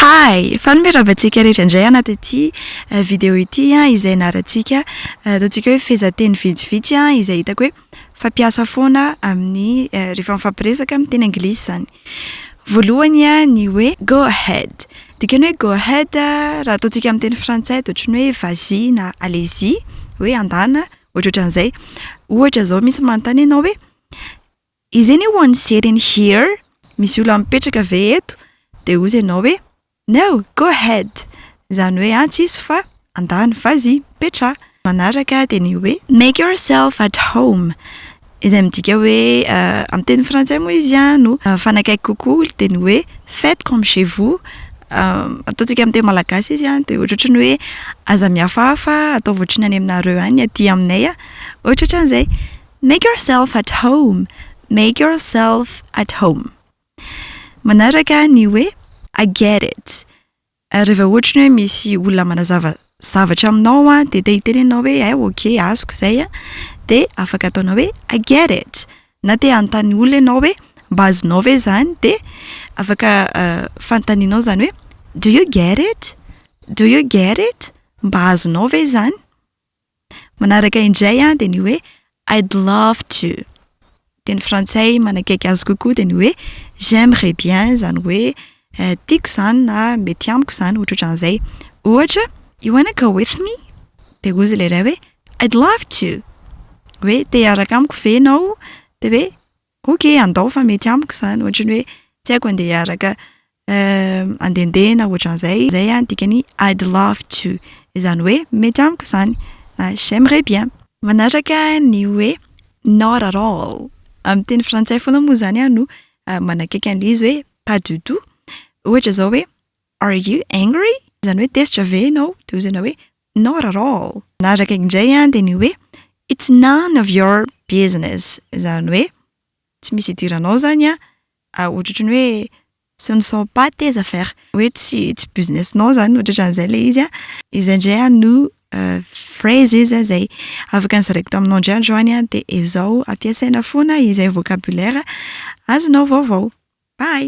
Hay! Fanomerav antsika rehetra indray anaty ity video ity izay ianarantsika, ataontsika hoe fehezanteny vitsivitsy izay hitako hoe fampiasa foana amin'ny rehefa mifampiresaka amin'ny teny anglisy izany. Voalohany ny hoe go ahead. Dikany hoe go ahead raha ataontsika amin'ny teny frantsay dia ohatran'ny hoe vas y na allez y, hoe andana, ohatrohatran'izay. Ohatra izao misy manontany anao hoe. Izy anie ho an'ny Sery in here, misy olona mipetraka ve eto? Dia hozy ianao hoe, No, go ahead! Izany hoe atsy izy fa andany fa zii, mipetraha! Manaraka dia ny hoe. Make yourself at home, izay midika hoe, amin'ny teny frantsay moa izy no mifanakaiky kokoa, dia ny hoe faites comme chez vous. Ataontsika amin'ny teny malagasy izy dia ohatrohatry ny hoe, Aza mihafahafa, ataovy ohatry ny any aminareo any, aty aminay ohatrohatran'izay. Make yourself at home Make yourself at home Manaraka ny hoe I get it Raha vao ohatra hoe misy olona manazava zavatra aminao an, dia te hiteny ianao hoe hay ok azoko izay an, dia afaka ataonao hoe I get it Na te hanontany olona ianao hoe mba azonao ve izany, dia afaka fanontanianao izany hoe Do you get it? Do you get it? Mba azonao ve izany? Manaraka indray dia ny hoe I'd love to. Dia ny frantsay manakaiky azy kokoa dia ny hoe j'aimerais bien, izany hoe tiako izany na mety amiko izany, ohatrohatran'izay. Ohatra, You wanna go with me? Dia hozy ilay iray hoe I'd love to. Hoe te hiaraka amiko ve ianao? Dia hoe Ok andao fa mety amiko zany ohatry ny hoe tsy haiko andeha hiaraka andendeha na ohatran'izay zay an dikany I'd love to izany hoe mety amiko zany na j'aimerais bien. Manaraka ny hoe not at all amin'ny teny frantsay foana moa zany aho no manakaiky an'ilay izy hoe pas du tout ohatra zao hoe are you angry? izany hoe tezitra ve ianao? de ozy ianao hoe Not at all! Nadraka indray aho dia ny hoe It's none of your business, izany hoe tsy misy idiranao izany an! Ohatrohatry ny hoe Ce ne sont pas tes affaires, hoe tsy tsy business-nao izany, ohatran'izay ilay izy an! Izay indray aho no phrases izay afaka nozaraiko taminao indray andro any dia ezao ampiasaina foana izay vocabulaire azonao vaovao. Bye!